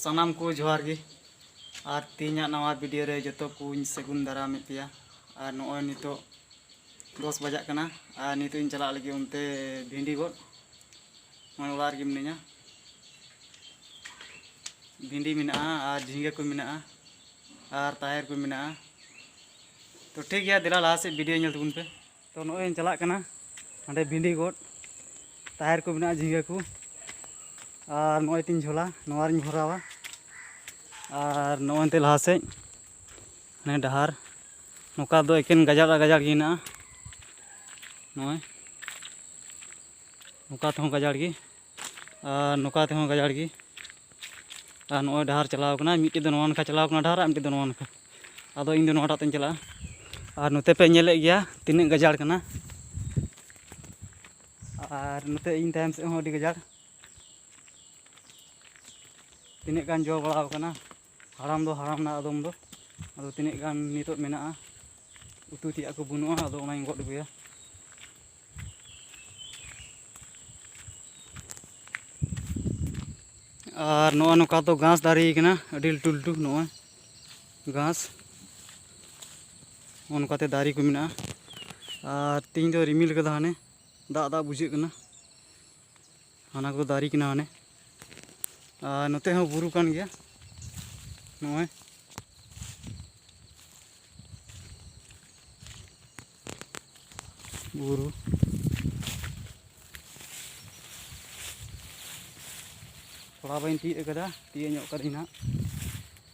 ᱥᱟᱱᱟᱢ ᱠᱚ ᱡᱚᱦᱟᱨ ᱜᱮ ᱟᱨ ᱛᱮᱦᱮᱧᱟᱜ ᱱᱟᱣᱟ ᱵᱷᱤᱰᱤᱭᱳ ᱨᱮ ᱡᱚᱛᱚ ᱠᱚᱧ ᱥᱟᱹᱜᱩᱱ ᱫᱟᱨᱟᱢᱮᱫ ᱯᱮᱭᱟ ᱟᱨ ᱱᱚᱜᱼᱚᱭ ᱱᱤᱛᱚᱜ ᱫᱚᱥ ᱵᱟᱡᱟᱜ ᱠᱟᱱᱟ ᱟᱨ ᱱᱤᱛᱚᱜ ᱤᱧ ᱪᱟᱞᱟᱜ ᱞᱟᱹᱜᱤᱫ ᱚᱱᱛᱮ ᱵᱷᱤᱱᱰᱤ ᱜᱚᱫ ᱱᱚᱜᱼᱚᱭ ᱚᱲᱟᱜ ᱨᱮᱜᱮ ᱢᱤᱱᱟᱹᱧᱟ ᱵᱷᱤᱱᱰᱤ ᱢᱮᱱᱟᱜᱼᱟ ᱟᱨ ᱡᱷᱤᱸᱜᱟᱹ ᱠᱚ ᱢᱮᱱᱟᱜᱼᱟ ᱟᱨ ᱛᱟᱦᱮᱨ ᱠᱚ ᱢᱮᱱᱟᱜᱼᱟ ᱛᱚ ᱴᱷᱤᱠ ᱜᱮᱭᱟ ᱫᱮᱞᱟ ᱞᱟᱦᱟ ᱥᱮᱫ ᱵᱷᱤᱰᱤᱭᱳ ᱧᱮᱞ ᱛᱟᱵᱚᱱ ᱯᱮ ᱛᱚ ᱱᱚᱜᱼᱚᱭ ᱤᱧ ᱪᱟᱞᱟᱜ ᱠᱟᱱᱟ ᱱᱚᱸᱰᱮ ᱵᱷᱤᱰᱤ ᱜᱚᱫ ᱛᱟᱦᱮᱨ ᱠᱚ ᱢᱮᱱᱟᱜᱼᱟ ᱡᱷᱤᱸᱜᱟᱹ ᱠᱚ ᱟᱨ ᱱᱚᱜᱼᱚᱭ ᱛᱤᱧ ᱡᱷᱚᱞᱟ ᱱᱚᱣᱟ ᱨᱤᱧ ᱵᱷᱚᱨᱟᱣᱟ ᱟᱨ ᱱᱚᱜᱼᱚᱭ ᱛᱮ ᱞᱟᱦᱟ ᱥᱮᱫ ᱦᱟᱱᱮ ᱰᱟᱦᱟᱨ ᱱᱚᱝᱠᱟ ᱫᱚ ᱮᱠᱮᱱ ᱜᱟᱡᱟᱲ ᱟᱨ ᱜᱟᱡᱟᱲ ᱜᱮ ᱦᱮᱱᱟᱜᱼᱟ ᱱᱚᱜᱼᱚᱭ ᱱᱚᱝᱠᱟ ᱛᱮᱦᱚᱸ ᱜᱟᱡᱟᱲ ᱜᱮ ᱟᱨ ᱱᱚᱝᱠᱟ ᱛᱮᱦᱚᱸ ᱜᱟᱡᱟᱲ ᱜᱮ ᱟᱨ ᱱᱚᱜᱼᱚᱭ ᱰᱟᱦᱟᱨ ᱪᱟᱞᱟᱣ ᱠᱟᱱᱟ ᱢᱤᱫᱴᱮᱡ ᱫᱚ ᱱᱚᱣᱟ ᱱᱟᱠᱷᱟ ᱪᱟᱞᱟᱣ ᱠᱟᱱᱟ ᱰᱟᱦᱟᱨ ᱟᱨ ᱢᱤᱫᱴᱮᱡ ᱫᱚ ᱱᱚᱣᱟ ᱱᱟᱠᱷᱟ ᱟᱫᱚ ᱤᱧ ᱫᱚ ᱱᱚᱣᱟᱴᱟᱜ ᱛᱮᱧ ᱪᱟᱞᱟᱜᱼᱟ ᱟᱨ ᱱᱚᱛᱮ ᱯᱮ ᱧᱮᱞᱮᱫ ᱜᱮᱭᱟ ᱛᱤᱱᱟᱹᱜ ᱜᱟᱡᱟᱲ ᱠᱟᱱᱟ ᱟᱨ ᱱᱚᱛᱮ ᱤᱧ ᱛᱟᱭᱚᱢ ᱥᱮᱫ ᱦᱚᱸ ᱟᱹᱰᱤ ᱜᱟᱡᱟᱲ ᱛᱤᱱᱟᱹᱜ ᱜᱟᱱ ᱡᱚ ᱵᱟᱲᱟᱣ ᱠᱟᱱᱟ ᱦᱟᱲᱟᱢ ᱫᱚ ᱦᱟᱲᱟᱢ ᱮᱱᱟ ᱟᱫᱚᱢ ᱫᱚ ᱟᱫᱚ ᱛᱤᱱᱟᱹᱜ ᱜᱟᱱ ᱱᱤᱛᱚᱜ ᱢᱮᱱᱟᱜᱼᱟ ᱩᱛᱩ ᱛᱮᱭᱟᱜ ᱠᱚ ᱵᱟᱹᱱᱩᱜᱼᱟ ᱟᱫᱚ ᱚᱱᱟᱧ ᱜᱚᱫ ᱟᱹᱜᱩᱭᱟ ᱟᱨ ᱱᱚᱜᱼᱚ ᱱᱚᱝᱠᱟ ᱫᱚ ᱜᱷᱟᱥ ᱫᱟᱨᱮ ᱠᱟᱱᱟ ᱟᱹᱰᱤ ᱞᱟᱹᱴᱩ ᱞᱟᱹᱴᱩ ᱱᱚᱜᱼᱚᱭ ᱜᱷᱟᱥ ᱱᱚᱜᱼᱚ ᱱᱚᱝᱠᱟᱛᱮ ᱫᱟᱨᱮ ᱠᱚ ᱢᱮᱱᱟᱜᱼᱟ ᱟᱨ ᱛᱮᱦᱤᱧ ᱫᱚ ᱨᱤᱢᱤᱞ ᱠᱟᱫᱟ ᱦᱟᱱᱮ ᱫᱟᱜ ᱫᱟᱜ ᱵᱩᱡᱷᱟᱹᱜ ᱠᱟᱱᱟ ᱦᱟᱱᱟ ᱠᱚ ᱫᱟᱨᱮ ᱠᱟᱱᱟ ᱦᱟᱱᱮ ᱟᱨ ᱱᱚᱛᱮ ᱦᱚᱸ ᱵᱩᱨᱩ ᱠᱟᱱ ᱜᱮᱭᱟ ᱱᱚᱜᱼᱚᱭ ᱵᱩᱨᱩ ᱛᱷᱚᱲᱟ ᱵᱟᱹᱧ ᱛᱤᱭᱳᱜ ᱠᱟᱫᱟ ᱛᱤᱭᱳᱜ ᱧᱚᱜ ᱠᱟᱹᱫᱟᱹᱧ ᱦᱟᱸᱜ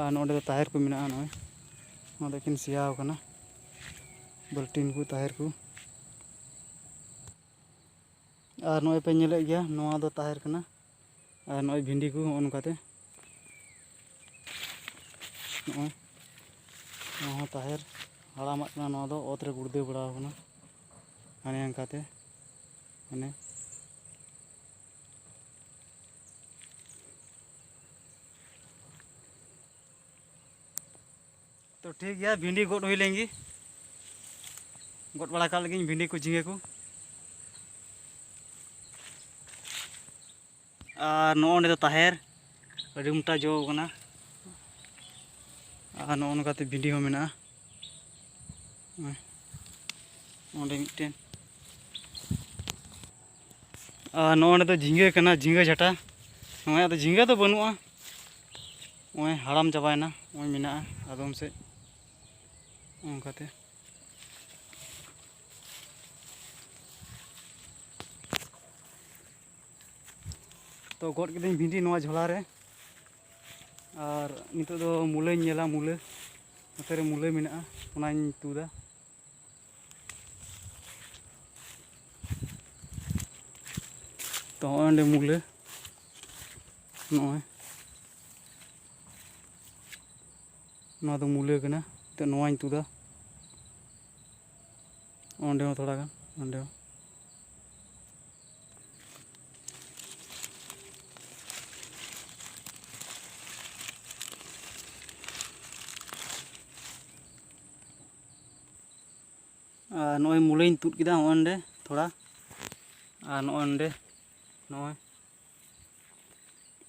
ᱟᱨ ᱱᱚᱰᱮ ᱫᱚ ᱛᱟᱦᱮᱨ ᱠᱚ ᱢᱮᱱᱟᱜᱼᱟ ᱱᱚᱜᱼᱚᱭ ᱱᱚᱣᱟ ᱫᱚ ᱮᱠᱷᱮᱱ ᱥᱮᱭᱟᱣ ᱠᱟᱱᱟ ᱵᱟᱹᱞᱴᱤᱱ ᱠᱚ ᱛᱟᱦᱮᱨ ᱠᱚ ᱟᱨ ᱱᱚᱜᱼᱚᱭ ᱯᱮ ᱧᱮᱞᱮᱫ ᱜᱮᱭᱟ ᱱᱚᱣᱟ ᱫᱚ ᱛᱟᱦᱮᱨ ᱠᱟᱱᱟ ᱟᱨ ᱱᱚᱜᱼᱚᱭ ᱵᱷᱤᱱᱰᱤ ᱠᱚ ᱱᱚᱜᱼᱚ ᱱᱚᱝᱠᱟᱛᱮ ᱱᱚᱜᱼᱚᱭ ᱱᱚᱣᱟ ᱦᱚᱸ ᱛᱟᱦᱮᱨ ᱦᱟᱲᱟᱢᱟᱜ ᱠᱟᱱᱟ ᱱᱚᱣᱟ ᱫᱚ ᱚᱛ ᱨᱮ ᱜᱩᱲᱫᱟᱹ ᱵᱟᱲᱟᱣ ᱠᱟᱱᱟ ᱦᱟᱱᱮ ᱚᱱᱠᱟᱛᱮ ᱢᱟᱱᱮ ᱛᱚ ᱴᱷᱤᱠ ᱜᱮᱭᱟ ᱵᱷᱤᱱᱰᱤ ᱜᱚᱫ ᱦᱩᱭ ᱞᱮᱱ ᱜᱮ ᱜᱚᱫ ᱵᱟᱲᱟ ᱠᱟᱜ ᱞᱟᱹᱜᱤᱫ ᱵᱷᱤᱱᱰᱤ ᱠᱚ ᱡᱷᱤᱸᱜᱟᱹ ᱠᱚ ᱟᱨ ᱱᱚᱜᱼᱚ ᱱᱤᱭᱟᱹ ᱫᱚ ᱛᱟᱦᱮᱨ ᱟᱹᱰᱤ ᱢᱚᱴᱟ ᱡᱚ ᱠᱟᱱᱟ ᱟᱨ ᱱᱚᱜᱼᱚ ᱱᱚᱝᱠᱟᱛᱮ ᱵᱷᱤᱱᱰᱤ ᱦᱚᱸ ᱢᱮᱱᱟᱜᱼᱟ ᱚᱸᱰᱮ ᱢᱤᱫᱴᱮᱱ ᱟᱨ ᱱᱚᱜᱼᱚᱸᱰᱮ ᱫᱚ ᱡᱷᱤᱸᱜᱟᱹ ᱠᱟᱱᱟ ᱡᱷᱤᱸᱜᱟᱹ ᱡᱷᱟᱴᱟ ᱱᱚᱜᱼᱚᱭ ᱟᱫᱚ ᱡᱷᱤᱸᱜᱟᱹ ᱫᱚ ᱵᱟᱹᱱᱩᱜᱼᱟ ᱱᱚᱜᱼᱚᱭ ᱦᱟᱲᱟᱢ ᱪᱟᱵᱟᱭᱮᱱᱟ ᱱᱚᱜᱼᱚᱭ ᱢᱮᱱᱟᱜᱼᱟ ᱟᱫᱚᱢ ᱥᱮᱫ ᱚᱱᱠᱟᱛᱮ ᱛᱚ ᱜᱚᱫ ᱠᱤᱫᱟᱹᱧ ᱵᱷᱤᱱᱰᱤ ᱱᱚᱣᱟ ᱡᱷᱚᱞᱟ ᱨᱮ ᱟᱨ ᱱᱤᱛᱚᱜ ᱫᱚ ᱢᱩᱞᱟᱹᱧ ᱧᱮᱞᱟ ᱢᱩᱞᱟᱹ ᱱᱚᱛᱮ ᱨᱮ ᱢᱩᱞᱟᱹ ᱢᱮᱱᱟᱜᱼᱟ ᱚᱱᱟᱧ ᱛᱩᱫᱟ ᱛᱚ ᱦᱚᱸᱜᱼᱚᱭ ᱚᱸᱰᱮ ᱢᱩᱞᱟᱹ ᱱᱚᱜᱼᱚᱭ ᱱᱚᱣᱟ ᱫᱚ ᱢᱩᱞᱟᱹ ᱠᱟᱱᱟ ᱛᱚ ᱱᱚᱣᱟᱧ ᱛᱩᱫᱟ ᱚᱸᱰᱮ ᱦᱚᱸ ᱛᱷᱚᱲᱟ ᱜᱟᱱ ᱚᱸᱰᱮ ᱦᱚᱸ ᱟᱨ ᱱᱚᱜᱼᱚᱭ ᱢᱩᱞᱟᱹᱧ ᱛᱩᱫ ᱠᱮᱫᱟ ᱱᱚᱜᱼᱚᱭ ᱱᱚᱸᱰᱮ ᱛᱷᱚᱲᱟ ᱟᱨ ᱱᱚᱜᱼᱚᱭ ᱱᱚᱸᱰᱮ ᱱᱚᱜᱼᱚᱭ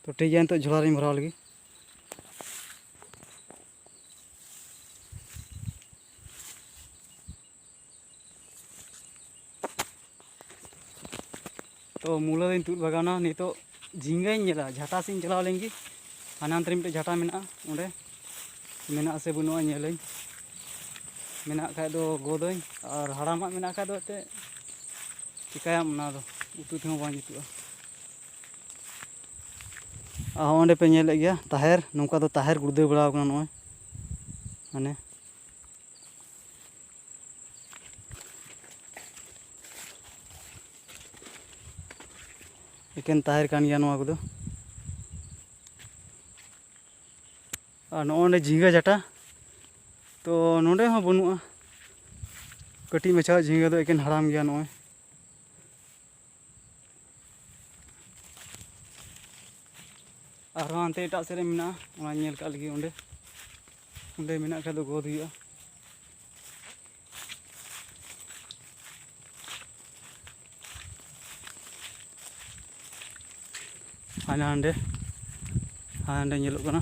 ᱛᱚ ᱴᱷᱤᱠ ᱜᱮᱭᱟ ᱱᱤᱛᱚᱜ ᱡᱷᱚᱞᱟ ᱨᱤᱧ ᱵᱷᱚᱨᱟᱣ ᱞᱟᱹᱜᱤᱫ ᱛᱚ ᱢᱩᱞᱟᱹ ᱫᱚᱧ ᱛᱩᱫ ᱵᱟᱜᱟᱣᱱᱟ ᱱᱤᱛᱚᱜ ᱡᱷᱤᱸᱜᱟᱹᱧ ᱧᱮᱞᱟ ᱡᱷᱟᱴᱟ ᱥᱮᱫ ᱤᱧ ᱪᱟᱞᱟᱣ ᱞᱮᱱ ᱜᱮ ᱦᱟᱱᱟ ᱦᱟᱱᱛᱮ ᱨᱮ ᱢᱤᱫᱴᱮᱡ ᱡᱷᱟᱴᱟ ᱢᱮᱱᱟᱜᱼᱟ ᱚᱸᱰᱮ ᱢᱮᱱᱟᱜᱼᱟ ᱥᱮ ᱵᱟᱹᱱᱩᱜᱼᱟ ᱧᱮᱞᱟᱹᱧ ᱢᱮᱱᱟᱜ ᱠᱷᱟᱡ ᱫᱚ ᱜᱚᱫᱟᱹᱧ ᱟᱨ ᱦᱟᱲᱟᱢᱟᱜ ᱢᱮᱱᱟᱜ ᱠᱷᱟᱡ ᱫᱚ ᱮᱱᱛᱮᱫ ᱪᱤᱠᱟᱹᱭᱟᱢ ᱚᱱᱟ ᱫᱚ ᱩᱛᱩ ᱛᱮᱦᱚᱸ ᱵᱟᱝ ᱡᱩᱛᱩᱜᱼᱟ ᱟᱨ ᱚᱸᱰᱮ ᱯᱮ ᱧᱮᱞᱮᱫ ᱜᱮᱭᱟ ᱛᱟᱦᱮᱨ ᱱᱚᱝᱠᱟ ᱫᱚ ᱛᱟᱦᱮᱨ ᱜᱩᱲᱫᱟᱹᱣ ᱵᱟᱲᱟᱣ ᱠᱟᱱᱟ ᱱᱚᱜᱼᱚᱭ ᱢᱟᱱᱮ ᱮᱠᱮᱱ ᱛᱟᱦᱮᱨ ᱠᱟᱱ ᱜᱮᱭᱟ ᱱᱚᱣᱟ ᱠᱚᱫᱚ ᱟᱨ ᱱᱚᱜᱼᱚ ᱱᱚᱰᱮ ᱡᱷᱤᱸᱜᱟᱹ ᱡᱟᱴᱟ ᱛᱚ ᱱᱚᱰᱮ ᱦᱚᱸ ᱵᱟᱹᱱᱩᱜᱼᱟ ᱠᱟᱹᱴᱤᱡ ᱢᱟᱪᱷᱟ ᱡᱷᱤᱸᱜᱟᱹ ᱫᱚ ᱮᱠᱮᱱ ᱦᱟᱲᱟᱢ ᱜᱮᱭᱟ ᱱᱚᱜᱼᱚᱭ ᱟᱨᱦᱚᱸ ᱦᱟᱱᱛᱮ ᱮᱴᱟᱜ ᱥᱮᱫ ᱨᱮ ᱢᱮᱱᱟᱜᱼᱟ ᱚᱱᱟ ᱧᱮᱞ ᱠᱟᱜ ᱞᱟᱹᱜᱤᱫ ᱚᱸᱰᱮ ᱚᱸᱰᱮ ᱢᱮᱱᱟᱜ ᱠᱷᱟᱡ ᱫᱚ ᱜᱚᱫ ᱦᱩᱭᱩᱜᱼᱟ ᱦᱟᱱᱟ ᱦᱟᱸᱰᱮ ᱦᱟᱸᱰᱮ ᱧᱮᱞᱚᱜ ᱠᱟᱱᱟ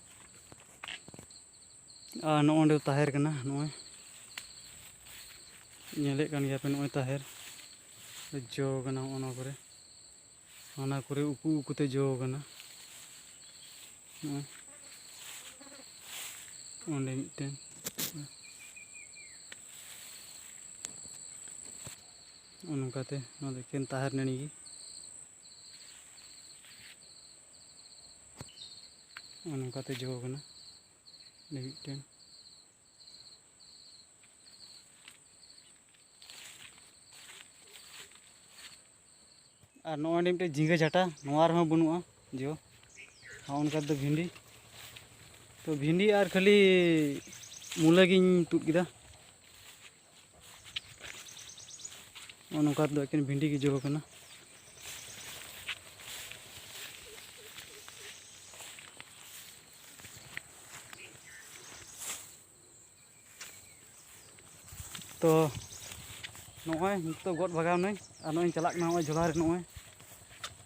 ᱟᱨ ᱱᱚᱜᱼᱚ ᱱᱚᱸᱰᱮ ᱛᱟᱦᱮᱨ ᱠᱟᱱᱟ ᱱᱚᱜᱼᱚᱭ ᱧᱮᱞᱮᱫ ᱠᱟᱱ ᱜᱮᱭᱟᱯᱮ ᱱᱚᱜᱼᱚᱭ ᱛᱟᱦᱮᱨ ᱡᱚ ᱠᱟᱱᱟ ᱦᱚᱸᱜᱼᱚ ᱱᱚᱣᱟ ᱠᱚᱨᱮ ᱚᱱᱟ ᱠᱚᱨᱮ ᱩᱠᱩ ᱩᱠᱩᱛᱮ ᱡᱚ ᱠᱟᱱᱟ ᱱᱚᱜᱼᱚᱭ ᱚᱸᱰᱮ ᱢᱤᱫᱴᱮᱱ ᱱᱚᱜᱼᱚ ᱱᱚᱝᱠᱟᱛᱮ ᱱᱚᱣᱟ ᱫᱚ ᱮᱠᱮᱱ ᱛᱟᱦᱮᱨ ᱱᱟᱹᱲᱤ ᱜᱮ ᱱᱚᱜᱼᱚ ᱱᱚᱝᱠᱟᱛᱮ ᱡᱚ ᱠᱟᱱᱟ ᱚᱸᱰᱮ ᱢᱤᱫᱴᱮᱱ ᱟᱨ ᱱᱚᱜᱼᱚᱭ ᱚᱸᱰᱮ ᱢᱤᱫᱴᱮᱱ ᱡᱷᱤᱸᱜᱟᱹ ᱡᱷᱟᱴᱟ ᱱᱚᱣᱟ ᱨᱮᱦᱚᱸ ᱵᱟᱹᱱᱩᱜᱼᱟ ᱡᱚ ᱱᱚᱜᱼᱚ ᱱᱚᱝᱠᱟ ᱫᱚ ᱵᱷᱤᱱᱰᱤ ᱛᱚ ᱵᱷᱤᱱᱰᱤ ᱟᱨ ᱠᱷᱟᱹᱞᱤ ᱢᱩᱞᱟᱹ ᱜᱤᱧ ᱛᱩᱫ ᱠᱮᱫᱟ ᱱᱚᱜᱼᱚ ᱱᱚᱝᱠᱟ ᱫᱚ ᱮᱠᱮᱱ ᱵᱷᱤᱱᱰᱤ ᱜᱮ ᱡᱚ ᱠᱟᱱᱟ ᱛᱚ ᱱᱚᱜᱼᱚᱭ ᱱᱤᱛᱚᱜ ᱜᱚᱫ ᱵᱷᱟᱜᱟᱣ ᱱᱟᱹᱧ ᱟᱨ ᱱᱚᱜᱼᱚᱭ ᱤᱧ ᱪᱟᱞᱟᱜ ᱠᱟᱱᱟ ᱱᱚᱜᱼᱚᱭ ᱡᱷᱚᱞᱟ ᱨᱮ ᱱᱚᱜᱼᱚᱭ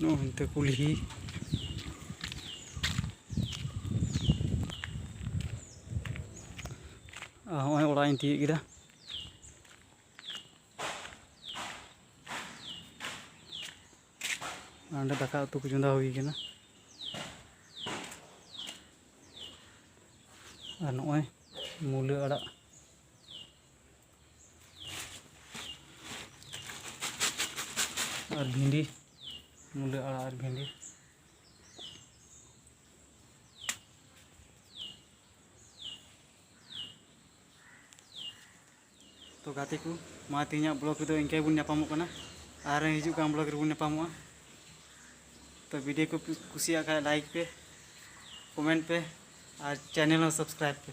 ᱱᱚᱜᱼᱚ ᱦᱟᱱᱛᱮ ᱠᱩᱞᱦᱤ ᱟᱨ ᱦᱚᱸᱜᱼᱚᱭ ᱚᱲᱟᱜ ᱤᱧ ᱛᱤᱭᱳᱜ ᱠᱮᱫᱟ ᱚᱸᱰᱮ ᱫᱟᱠᱟ ᱩᱛᱩ ᱠᱚ ᱪᱚᱸᱫᱟ ᱦᱩᱭ ᱠᱟᱱᱟ ᱟᱨ ᱱᱚᱜᱼᱚᱭ ᱢᱩᱞᱟᱹ ᱟᱲᱟᱜ ᱟᱨ ᱵᱷᱤᱱᱰᱤ ᱢᱩᱞᱟᱹ ᱟᱲᱟᱜ ᱟᱨ ᱵᱷᱤᱱᱰᱤ ᱛᱚ ᱜᱟᱛᱮ ᱠᱚ ᱢᱟ ᱛᱮᱦᱮᱧᱟᱜ ᱵᱞᱚᱜ ᱨᱮᱫᱚ ᱤᱱᱠᱟᱹ ᱵᱚᱱ ᱧᱟᱯᱟᱢᱚᱜ ᱠᱟᱱᱟ ᱟᱨ ᱦᱤᱡᱩᱜ ᱠᱟᱱ ᱵᱞᱚᱜ ᱨᱮᱵᱚᱱ ᱧᱟᱯᱟᱢᱚᱜᱼᱟ ᱛᱚ ᱵᱷᱤᱰᱤᱭᱳ ᱠᱚ ᱠᱩᱥᱤᱭᱟᱜ ᱠᱷᱟᱡ ᱞᱟᱭᱤᱠ ᱯᱮ ᱠᱚᱢᱮᱱᱴ ᱯᱮ ᱟᱨ ᱪᱮᱱᱮᱞ ᱦᱚᱸ ᱥᱟᱵᱥᱠᱨᱟᱭᱤᱵ ᱯᱮ